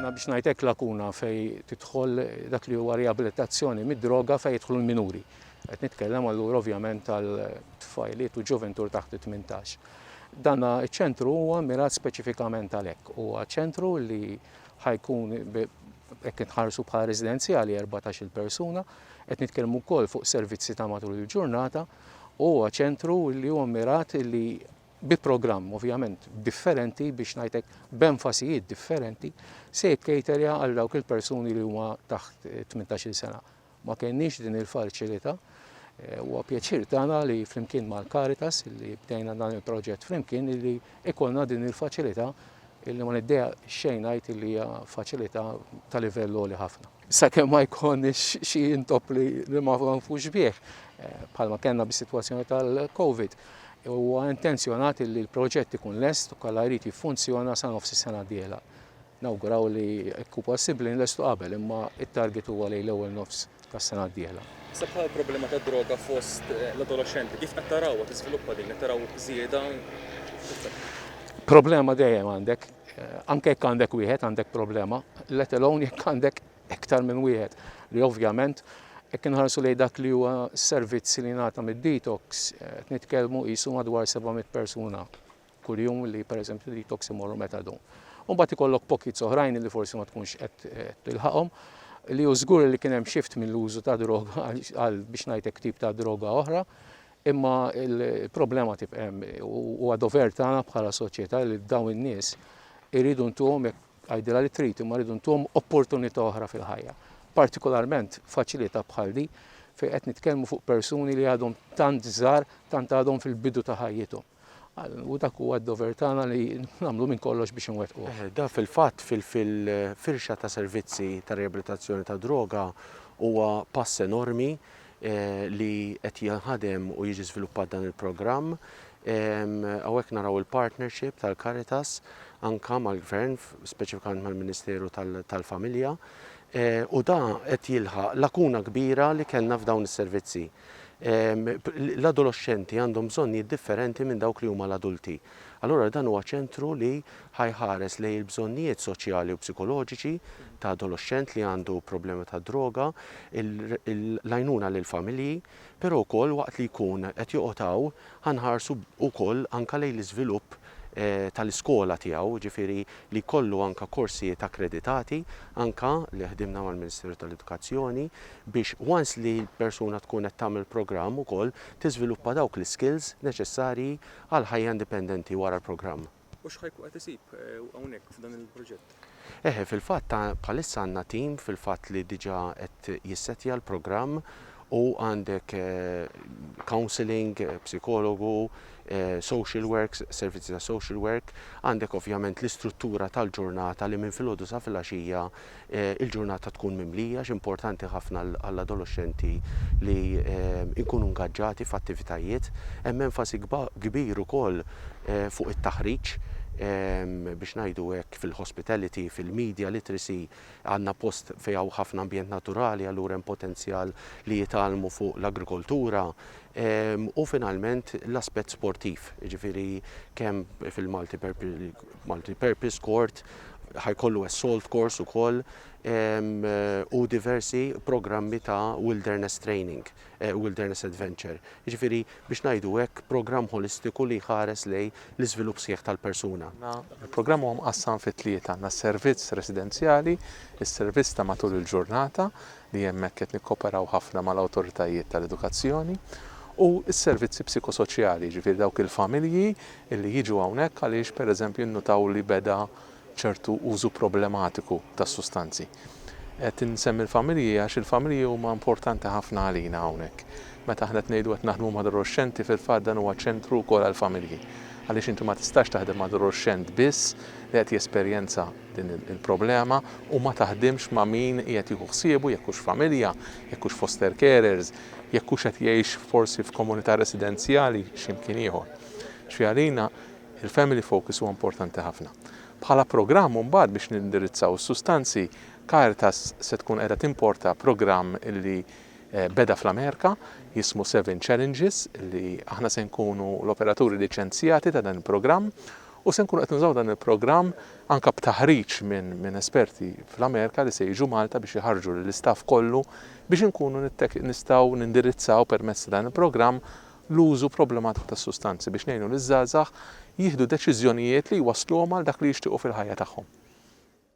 Imma biex ngħid hekk lakuna fejn tidħol dak li huwa riabilitazzjoni mid-droga fejn jidħlu l-minuri. Qed nitkellem allura ovvjament għal tfajliet u ġuventur taħt it-tmintax. Dan iċ-ċentru huwa mirat speċifikament għalhekk. Huwa ċentru li ħajkun hekk inħarsu bħala residenzjali 14-il persuna, qed nitkellmu wkoll fuq servizzi ta' matul il-ġurnata, huwa ċentru li huwa mirat li bi programm ovvjament differenti biex ngħid hekk b'enfasijiet differenti se jikkejterja għal dawk il-persuni li huma taħt 18-il sena. Ma kenniex din il-faċilità Eh, huwa pjaċir tagħna li flimkien mal-Caritas li bdejna dan il-proġett flimkien li ikolna din il-faċilità illi ma niddeja xejn ngħid li hija faċilità ta' livell li ħafna. sakemm ma jkollniex xi intopp li ma nafux bih, bħalma kellna bis-sitwazzjoni tal-COVID, huwa intenzjonat li l-proġett ikun lest u kollha jrid jiffunzjona sa nofs is-sena d-dieħla. Nawguraw li jekk hu possibbli nlestu qabel, imma t-target huwa lejn l-ewwel nofs tas-sena d-dieħla. Issa bħal problema tad-droga fost l-adoloxxenti, kif qed tarawha tiżviluppa din? Qed taraw żieda? Problema dejjem għandek. Anke jekk għandek wieħed għandek problema, let alone jekk għandek iktar minn wieħed li ovvjament jekk inħarsu lejn dak li huwa servizz li jingħata mid-detox qed nitkellmu qisu madwar 700 persuna kuljum li pereżempju detox imorru metadon. U mbagħad ikollok pockets oħrajn li forsi ma tkunx qed tilħaqhom li hu żgur li kien hemm shift mill-użu ta' droga għal biex ngħidlek tip ta' droga oħra Imma l-problema tibqa' hemm. Huwa dover tagħna bħala soċjetà li dawn in-nies iridu ntuhom, jekk tgħidilha li trid, imma rridu ntuhom opportunità oħra fil-ħajja. Partikolarment faċilità bħal din fejn qed nitkellmu fuq persuni li għadhom tant żgħar, tant għadhom fil-bidu ta' ħajjithom. U dak huwa d-dover tagħna li nagħmlu minn kollox biex inwettquh. Dan fil-fatt fil-firxa ta' servizzi ta' riabilitazzjoni tad-droga huwa pass enormi li qed jinħadem u jiġi żviluppat dan il-programm. Hawnhekk naraw il-partnership tal-Caritas anke mal-Gvern, speċifikament mal-Ministeru tal-Familja, u dan qed jilħaq lakuna kbira li kellna f'dawn is-servizzi. l-adoloxxenti għandhom bżonnijiet differenti minn dawk li huma l-adulti. Allura dan huwa ċentru li ħa jħares lejn il-bżonnijiet soċjali u psikoloġiċi ta' adoloxxent li għandu problema tad-droga, l-għajnuna lill-familji, però wkoll waqt li jkun qed joqgħod hawn ħa nħarsu wkoll anke lejn l-iżvilupp tal-iskola tiegħu, jiġifieri li jkollu anke korsijiet akkreditati, anke li ħdimna mal-Ministeru tal-Edukazzjoni biex once li l-persuna tkun qed tagħmel programm ukoll tiżviluppa dawk l-iskills neċessarji għall-ħajja indipendenti wara l-programm. U x'ħa jkun qed isib hawnhekk f'dan il-proġett? Eħe, fil-fatt bħalissa għandna tim fil-fatt li diġà qed jissettja l-programm u għandek counselling, psikologu, social works, servizzi ta' social work, għandek ovvjament l-istruttura tal-ġurnata li minn filgħodu sa filgħaxija l-ġurnata tkun mimlija għax importanti ħafna għall-adoloxxenti li jkunu ngaġġati f'attivitajiet. Hemm enfasi kbir ukoll fuq it-taħriġ, biex ngħidu hekk, fil-hospitality, fil-media literacy, għandna post fejn hawn ħafna ambjent naturali, allura hemm potenzjal li jitgħallmu fuq l-agrikoltura, u finalment l-aspett sportiv, jiġifieri kemm fil-multi multi purpose court, ħa jkollu assault course ukoll, u diversi programmi ta' wilderness training. Wilderness Adventure, jiġifieri biex ngħidu hekk programm ħolistiku li jħares lejn l-iżvilupp sħiħ tal-persuna. Il-programm huwa mqassam fi tlieta, għandna s-servizz residenzjali, is-servizz ta' matul il-ġurnata, li hemmhekk qed nikkoperaw ħafna mal-awtoritajiet tal-edukazzjoni, u s-servizzi psikosoċjali, jiġifieri dawk il-familji li jiġu hawnhekk għaliex pereżempju nnutaw li beda ċertu użu problematiku tas-sustanzi. Qed insemmi l-familji għax il-familji huma importanti ħafna għalina hawnhekk. Meta aħna qed ngħidu qed naħdmu mad-adoloxxenti fil-fatt dan huwa ċentru wkoll għall-familji. Għaliex inti ma tistax taħdem ma' adoloxxent biss li qed jesperjenza din il-problema u ma taħdimx ma' min qiegħed jieħu ħsiebu jekk hux familja, jekk hux foster carers, jekk hux qed jgħix forsi f'komunità residenzjali xi mkien ieħor. X'fiha għalina Il-Family Focus huwa importanti ħafna. Bħala programm mbagħad biex nindirizzaw is-sustanzi, Caritas se tkun qiegħda timporta programm li beda fl-Amerika jismu Seven Challenges li aħna se nkunu l-operaturi liċenzjati ta' dan il-programm u se nkunu qed nużaw dan il-programm anke b'taħriġ minn esperti fl-Amerika li se jiġu Malta biex iħarrġu lill-istaff kollu biex inkunu nistgħu nindirizzaw permezz ta' dan il-programm l-użu problematiku tas-sustanzi biex ngħinu liż-żgħażagħ jieħdu deċiżjonijiet li jwassluhom għal dak li jixtiequ fil-ħajja tagħhom.